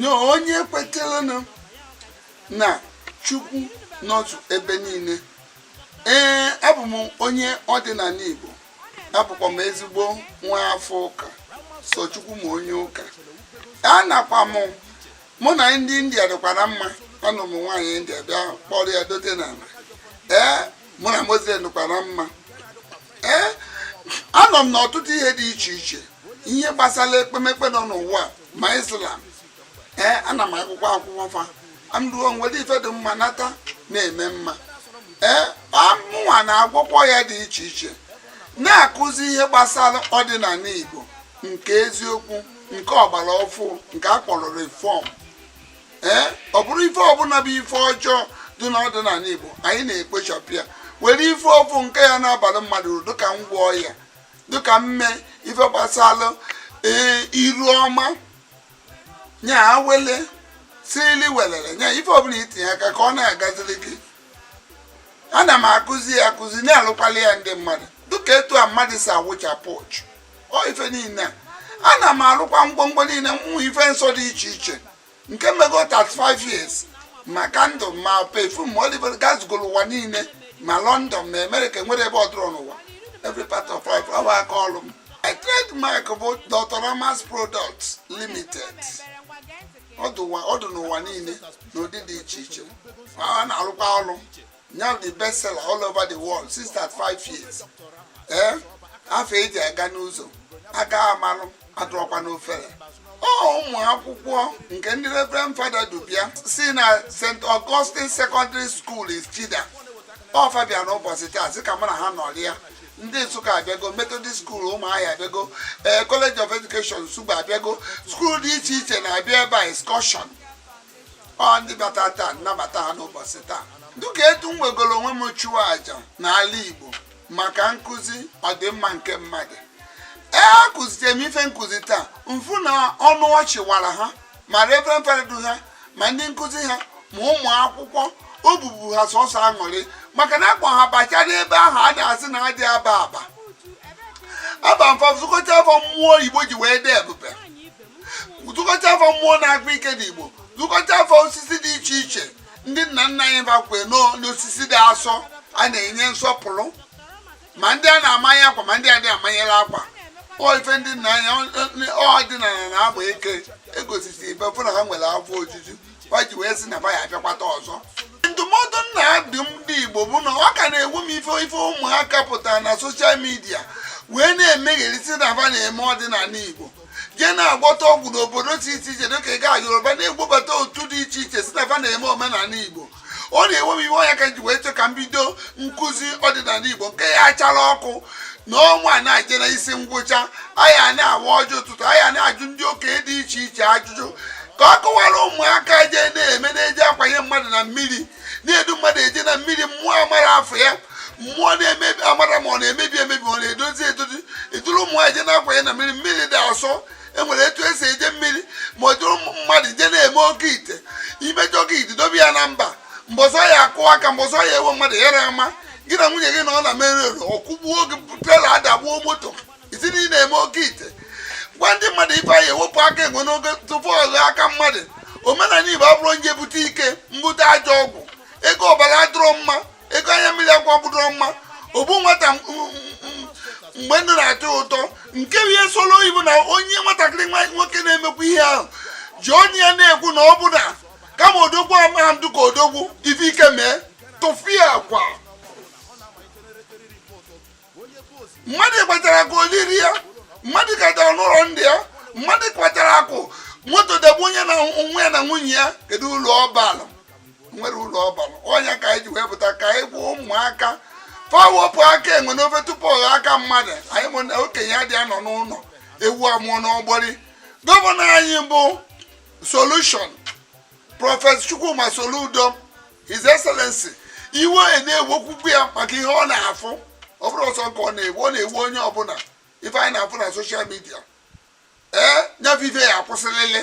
nye onye kweterenụ na chukwu nọtụ ebe niile ee abụ m onye ọdịnala igbo abụkwa m ezigbo nwa afọ ụka sọ chukwu ma onye ụka a nakwa m mụ na ndị india dịkwara mma anụ m nwaanyị india bịa kpọrọ ya dote n'ala ee mụ na muslim dịkwara mma ee anọ m n'ọtụtụ ihe dị iche iche ihe gbasara ekpemekpe dị n'ụwa ma islam ee ana m agụkwu akwụkwọ fa amruo nwere ife dị mma nata na-eme mma ee a mụnwa na-agwọkwa ọya dị iche iche na-akụzi ihe gbasara ọdịnala igbo nke eziokwu nke ọgbara ọfụ nke a kpọrọ reform ee ọ bụrụ ife ọbụla bụ ife ọjọọ dị n'ọdịnala igbo anyị na-ekpochapụ ya were ife ọfụ nke ya na-abalụ mmadụ uru dịka ngwọ ọya dịka mme ife gbasalụ e, iru ọma nya awele silili welele nya ife ọbụla i tinye aka ka ọ na-agaziri gị ana m akụzi ya akụzi na-alụkwalụ ya ndị mmadụ dịka etu a mmadụ si awụchapụ uchu o ife niile a ana m alụkwa ngwongwo niile mm ife nsọ dị iche iche nke m mego 35 years ma kandụl ma pefum ma olive oil gazugoro ụwa niile ma london ma amerịka enwerọ ebe ọ dụrọ n'ụwa every part of life ọ bụ aka ọrụ m my trademark bụ doctor ramas products limited ọ dụ n'ụwa niile n'ụdị dị iche iche a na-arụkwa ọrụ Now the best seller all over the world since thirty five years. Eh? Afa e ji aga n'ụzọ, a ga-amalụ, adụrọkwa n'ofere. Ọ ụmụ akwụkwọ nke ndị Reverend Fada du bịa si na St. Augustine Secondary School Ichida. Ọ fa bịa n'ụbọchị taa sị ka mụ na ha nọrịa. ndị nsụka abịago methodist school ụmụahịa abịago ee eh, college of education nsugbe abịago skuul dị iche iche na-abịa ebe a excursion ọ ndị bata taa m nabata ha n'ụbọchị taa dịka etu m wegoro onwe m chụọ aja n'ala Igbo maka nkụzi ọdịmma nke mmadụ ee akụzitere m ife m kụzi taa m fụ na ọnụ ọchị wara ha ma reverend fada du ha ma ndị nkụzi ha ma ụmụ akwụkwọ obi bụ ha sọsọ aṅụrị maka na a kpọ ha bacha n'ebe ahụ a na-asị na adị aba aba aba mfa zikọta fa mmụọ Igbo ji wee dị ebube zikọta fa mmụọ na-akpa ike dị igbo zikọta fa osisi dị iche iche ndị nna nna anyị bakwe n'osisi dị asọ a na-enye nsọpụrụ ma ndị a na-amanye akwa ma ndị adị amanyere akwa ife ndị nna anyị ọdịnala na-agba ike egosisi ibe fụ na ha nwere afọ ojuju ha ji wee sị na ba ya abịakwata ọzọ ndụmọdụ m na-adụ ndị igbo bụ na ọ ka na-ewu m ife ife ụmụaka pụtara na soshal midia wee na-emegherisi na ba na-eme ọdịnala igbo jee na-agwọta ọgwụ n'obodo si iche iche dịka ị gaa yoruba na-egbobata otu dị iche iche si na fa na-eme omenala igbo ọ na-ewe m iwe ọ nya ka m ji wee chọ ka m bido nkụzi ọdịnala igbo nke ya achara ọkụ na ọnwa na-eje na isi ngwụcha anyị a na-awa ọjị ụtụtụ anyị a na-ajụ ndị okenye dị iche iche ajụjụ ka a kọwara ụmụaka jee na-eme na-eji akwanye mmadụ na mmiri na-edu mmadụ eje na mmiri mmụọ amarọ afa ya mmụọ na-emebi amarọ ma ọ na-emebi emebi ọ na-edozi edozi eduru ụmụ nwaanyị je na-akwanye na mmiri mmiri dị asọ enwere etu esi eje mmiri ma ọ duru mmadụ je na-eme oke ite imejọ oke ite dobe ya na mba mbọsị ọ ya akụ aka mbọsị ọ ya ewe mmadụ ya na ama gị na nwunye gị na ọ na mere ọ kụgbuo gị trela adagbuo moto ị sị na ị na-eme oke ite gwa ndị mmadụ ibe anyị ewepụ aka enwe n'oge tupu ọ ghọọ aka mmadụ omenala igbo abụrọ onye bute ike mbute ajọ ọgwụ ego ọbara adụrọ mma ego anya mmiri akwa adụrọ mma ogbu nwata mgbe ndụ na-atọ ụtọ nke bụ ihe solo oyibo na onye nwatakịrị nwa nwoke na-emekwa ihe ahụ jụọ nya ya na-ekwu na ọ bụ na kama odogwu amaghị ndụ ka odogwu ife ike mee tụfịakwa mmadụ kpatara akụ oliri ya mmadụ katara n'ụlọ ndị ya mmadụ kpatara akụ moto dagbue nya na onwe ya na nwunye ya kedu ulu ọ balụ nwerọ ulu ọ balụ ọ nya ka anyị ji wee pụta ka anyị gwa ụmụaka fa wepụ aka enwe n'ofe tupu ọ ghọọ aka mmadụ anyị ma na okenye adịa anọ n'ụlọ ewu amụọ n'ọgbụrị gọvanọ anyị bụ solushon prọfesọ Chukwuma Soludo His Excellency iwe na-ewekwukwu ya maka ihe ọ na-afụ ọ bụrọ sọ nya ka ọ na-ewe ọ na-ewe onye ọbụla ife anyị na-afụ na soshal midia ee nya bụ ife ya akwụsịlịlị